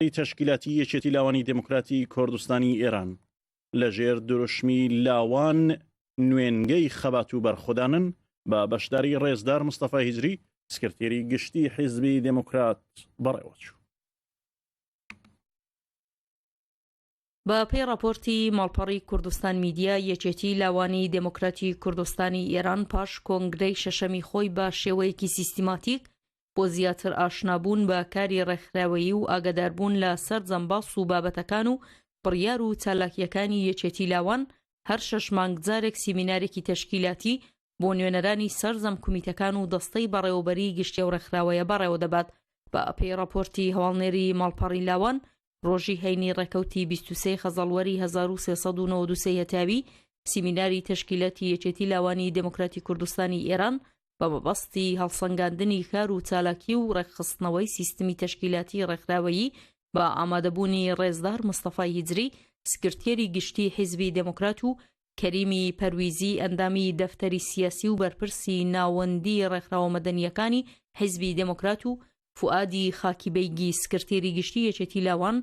سەرۆکایەتی تەشکیلاتی یەکێتی لاوانی دموکراتی کۆردستانی ئێران لە ژێر دروشمی لاوان نوێنگەی خەبات و بەرخودانن بە بەشداری ڕێزدار مستەفا هیجری سکرتێری گشتی حیزبی دموکرات بەڕێوەچوو. بە پێی ڕاپۆرتی ماڵپەڕی کوردستان میدیا، یەکێتی لاوانی دێموکراتی کوردستانی ئێران پاش کۆنگرەی شەشەمی خۆی بە شێوەیەکی سیستیماتیک بۆ زیاتر ئاشنابوون بە کاری ڕێکخراوەیی و ئاگەداربوون لە سەرجەم باس و بابەتەکان و بڕیار و چالاکییەکانی یەکێتی لاوان هەر شەش مانگ جارێک سیمینارێکی تەشکیلاتی بۆ نوێنەرانی سەرجەم کومیتەکان و دەستەی بەڕێوەبەری گشتی ئەو ڕێکخراوەیە بەڕێوە دەبات. بە پێی ڕاپۆرتی هەواڵنێری ماڵپەڕی لاوان، ڕۆژی هەینی ڕێکەوتی بیست و سێ خەزەڵوەری هەزار و سێ سەد و نەوەد و سێ هەتاوی سیمیناری تەشکیلاتی یەکێتی لاوانی دێموکراتی کوردستانی ئێران بە مەبەستی هەڵسەنگاندنی کار و چالاکی و ڕێکخستنەوەی سیستمی تەشکیلاتی ڕێکخراوەیی بە ئامادەبوونی ڕێزدار مستەفای هیجری سکرتێری گشتی حیزبی دێموکرات و کەریمی پەرویزی ئەندامی دەفتەری سیاسی و بەرپرسی ناوەندی ڕێکخراوە مەدەنییەکانی حیزبی دێموکرات و فوئادی خاکی بەیگی سکرتێری گشتی یەکێتی لاوان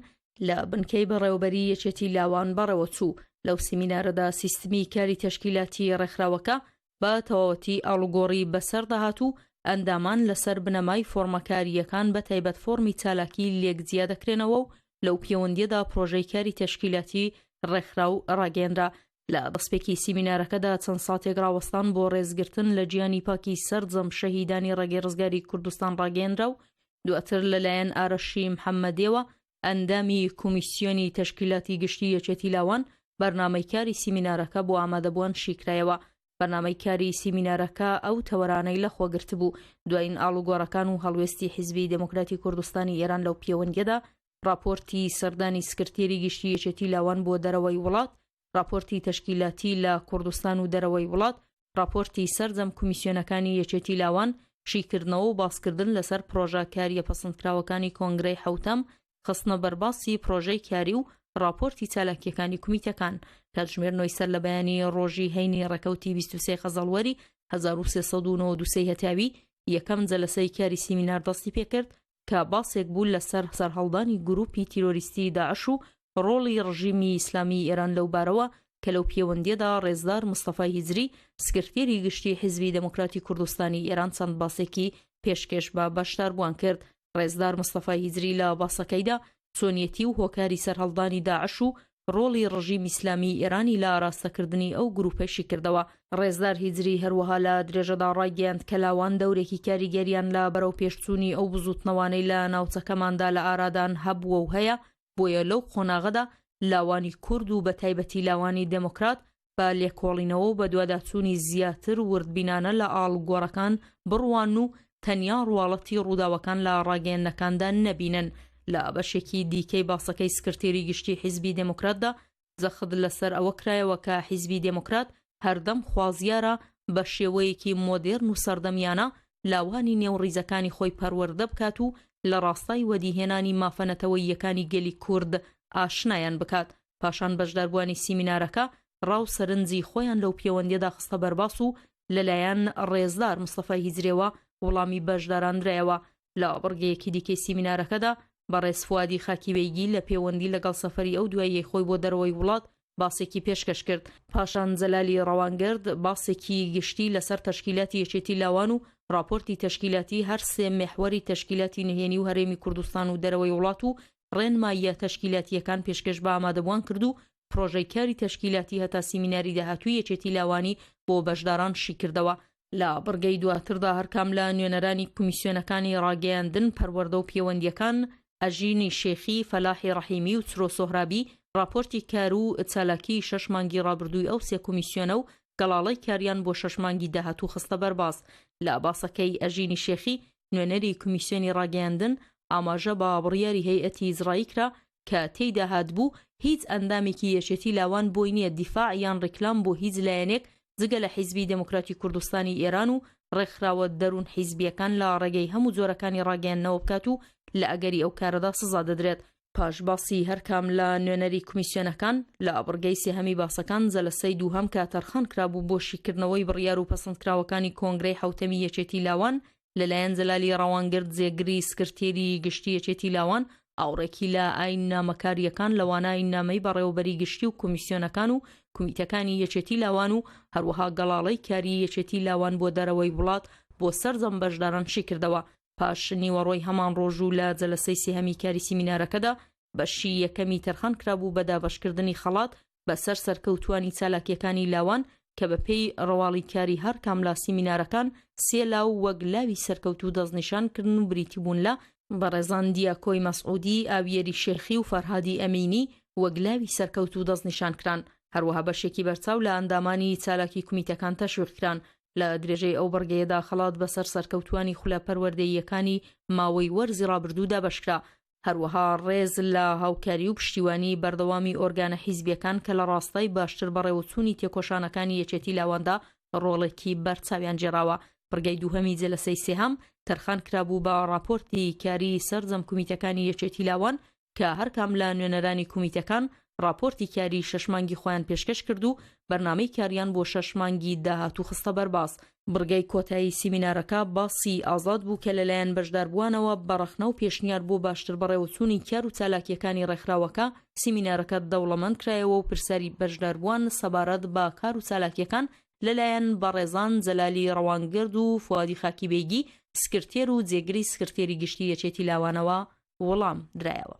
لە بنکەی بەڕێوەبەریی یەکێتی لاوان بەڕێوەچوو. لەو سیمینارەدا سیستمی کاری تەشکیلاتی ڕێکخراوەکە، بە تەواوەتی ئاڵوگۆڕی بەسەر دەهات و ئەندامان لەسەر بنەمای فۆڕمە کارییەکان بە تایبەت فۆڕمی چالاکی لێک جیا دەکرێنەوە و لەو پێوەندییەدا پرۆژەی کاری تەشکیلاتی ڕێکخراو ڕاگەیەنرا. لە دەستپێکی سیمینارەکەدا چەند ساتێک ڕاوەستان بۆ ڕێزگرتن لە گیانی پاکی سەرجەم شەهیدانی ڕێگەی ڕزگاری کوردستان ڕاگەیەنرا و دواتر لەلایەن ئارەشی محەممەدیەوە ئەندامی کومیسیۆنی تەشکیلاتی گشتی یەکێتی لاوان بەرنامەی کاری سیمینارەکە بۆ ئامادەبوان شیکرایەوە. بەرنامەی کاری سیمینارەکە ئەو تەوەرانەی لەخۆگرتبوو، دواین ئاڵوگۆڕەکان و هەڵوێستی حیزبی دێموکراتی کوردستانی ئێران لەو پێوەندیەدا، ڕاپۆرتی سەردانی سکرتێری گشتی یەکێتی لاوان بۆ دەرەوەی وڵات، ڕاپۆرتی تەشکیلاتی لە کوردستان و دەرەوەی وڵات، ڕاپۆرتی سەرجەم کومیسیۆنەکانی یەکێتی لاوان، شیکردنەوە و باسکردن لەسەر پڕۆژە کارییە پەسندکراوەکانی کۆنگرەی حەوتەم، خستنە بەرباسی پڕۆژەی کاری و ڕاپۆرتی چالاکییەکانی کومیتەکان، کاتژمێر نۆی سەر لە بەیانی ڕۆژی هەینی ڕێکەوتی بیست و سێ خەزەڵوەری هەزار و سێ سەد و نەوەد و سێ هەتاوی یەکەم جەلەسەی کاری سیمینار دەستی پێکرد، کە باسێک بوو لەسەر سەرهەڵدانی گرووپی تیرۆریستیی داعش و ڕۆڵی ڕژیمی ئیسلامیی ئێران لەو بارەوە کە لەو پێوەندییەدا ڕێزدار مستەفای هیجری سکرتێری گشتیی حیزبی دێموکراتی کوردستانی ئێران چەند باسێکی پێشکێش بە بەشداربووان کرد ڕێزدار مستەفای هیجری لە باسەکەیدا چۆنیەتی و هۆکاری سەرهەڵدانی داعش و ڕۆڵی ڕژیم ئیسلامیی ئێرانی لە ئاراستەکردنی ئەو گرووپەی شی کردەوە. ڕێزدار هیجری هەروەها لە درێژەدا ڕایگەیاند کە لاوان دەورێکی کاریگەریان لە بەرەوپێشچوونی ئەو بزووتنەوانەی لە ناوچەکەماندا لە ئارادان هەبووە و هەیە، بۆیە لەو قۆناغەدا لاوانی کورد و بەتایبەتی لاوانی دێموکرات بە لێکۆڵینەوە و بەدواداچوونی زیاتر وردبینانە لە ئاڵوگۆڕەکان بڕوانن و تەنیا ڕواڵەتی ڕووداوەکان لە ڕاگەیەندنەکاندا نەبینن. لە بەشێکی دیکەی باسەکەی سکرتێری گشتی حیزبی دێموکراتدا جەخت لەسەر ئەوە کرایەوە کە حیزبی دێموکرات هەردەم خوازیارە بە شێوەیەکی مۆدێرن و سەردەمیانە لاوانی نێو ڕیزەکانی خۆی پەروەردە بکات و لە ڕاستای وەدیهێنانی مافە نەتەوەییەکانی گەلی کورد ئاشنایان بکات پاشان بەشداربووانی سیمینارەکە ڕا و سەرنجی خۆیان لەو پێوەندیەدا خستە بەرباس و لەلایەن ڕێزدار مستەفای هیجرێوە وڵامی بەشداران درایەوە لە بڕگەیەکی دیکەی سیمینارەکەدا بەڕێز فوادی خاکیبەیگی لە پێوەندی لەگەڵ سەفەری ئەو دواییەی خۆی بۆ دەرەوەی وڵات باسێکی پێشکەش کرد پاشان جەلالی ڕەوانگرد باسێکی گشتی لەسەر تەشکیلاتی یەکێتی لاوان و راپۆرتی تەشکیلاتی هەر سێ مێحوەری تەشکیلاتی نهێنی و هەرێمی کوردستان و دەرەوەی وڵات و ڕێنماییە تەشکیلاتییەکان پێشکێش بە ئامادەبووان کرد و پڕۆژەی کاری تەشکیلاتی هەتا سیمیناری داهاتووی یەکێتی لاوانی بۆ بەشداران شیکردەوە. لە بڕگەی دواتردا هەرکام لە نوێنەرانی کومیسیۆنەکانی ڕاگەیاندن، پەروەردە و پێوەندییەکان، ئەژینی شێخی، فەلاحی ڕەحیمی و چرۆ سۆهرابی، ڕاپۆرتی کار و چالاکیی شەش مانگی ڕابردووی ئەو سێ کومیسیۆنە و گەڵاڵەی کاریان بۆ شەش مانگی داهاتوو خستە بەرباس. لە باسەکەی ئەژینی شێخی، نوێنەری کمیسیۆنی ڕاگەیاندن ئاماژە بە بڕیاری هەیئەتی ئیزڕایی کرا کە تێیدا هاتبوو هیچ ئەندامێکی یەکێتی لاوان بۆی نییە دیفاع یان ڕیکلام بۆ هیچ لایەنێک جگە لە حیزبی دێموکراتی کوردستانی ئێران و ڕێکخراوە دەروون حیزبییەکان لە ڕێگەی هەموو جۆرەکانی ڕاگەیاندنەوە بکات و لە ئەگەری ئەو کارەدا سزا دەدرێت پاش باسی هەرکام لە نوێنەری کمیسیۆنەکان، لە بڕگەی سێهەمی باسەکان جەلەسەی دووهەم کە تەرخان کرابوو بۆ شیکردنەوەی بڕیار و پەسەندکراوەکانی کۆنگرەی حەوتەمی یەکێتی لاوان، لەلایەن جەلالی ڕەوانگرد جێگری سکرتێری گشتی یەکێتی لاوان، ئاوڕێکی لە ئاییننامەکارییەکان لەوانە ئاییننامەی بەڕێوەبەری گشتی و کمیسیۆنەکان و کمیتەکانی یەکێتی لاوان و هەروەها گەڵاڵەی کاری یەکێتی لاوان بۆ دەرەوەی وڵات بۆ سەرجەم بەشداران شیکردەوە پاش نیوەڕۆی هەمان ڕۆژ و لە جەلەسەی سێهەمی کاری سیمینارەکەدا بەشی یەکەمی تەرخان کرابوو بە دابەشکردنی خەڵات بەسەر سەرکەوتوانی چالاکیەکانی لاوان کە بە پێی ڕواڵی کاری هەر کام لە سیمینارەکان سێ لاو وەک لاوی سەرکەوتوو دەستنیشان کردن و بریتی بوون لە بەڕێزان دیاکۆی مەسعودی ئاویەری شێخی و فەرهادی ئەمینی وەک لاوی سەرکەوتوو دەستنیشان کران هەروەها بەشێکی بەرچاو لە ئەندامانی چالاکی کومیتەکان تەشویق کران لە درێژەی ئەو بڕگەیەدا خەڵات بەسەر سەرکەوتووانی خولە پەروەردەییەکانی ماوەی وەرزی ڕابردوودا بەشکرا، هەروەها ڕێز لە هاوکاری و پشتیوانی بەردەوامی ئۆرگانە حیزبییەکان کە لە ڕاستای باشتر بەڕێوەچوونی تێکۆشانەکانی یەکێتی لاواندا ڕۆڵێکی بەرچاویان گێڕاوە. بڕگەی دووهەمی جەلەسەی سێهەم تەرخان کرابوو بە ڕاپۆرتی کاری سەرجەم کومیتەکانی یەکێتی لاوان کە هەرکام لە نوێنەرانی کومیتەکان ڕاپۆرتی کاری شەش مانگی خۆیان پێشکەش کرد و بەرنامەی کاریان بۆ شەش مانگی داهاتوو خستە بەرباس بڕگەی کۆتایی سیمینارەکە باسی ئازاد بوو کە لەلایەن بەشداربووانەوە بە ڕەخنە و پێشنیار بۆ باشتر بەڕێوەچوونی کار و چالاکییەکانی ڕێکخراوەکە سیمینارەکە دەوڵەمەند کرایەوە و پرسیاری بەشداربووان سەبارەت بە کار و چالاکییەکان لەلایەن بەڕێزان جەلالی ڕەوانگەرد و فوادی خاکی بەیگی سکرتێر و جێگری سکرتێری گشتی یەکێتی لاوانەوە وڵام درایەوە.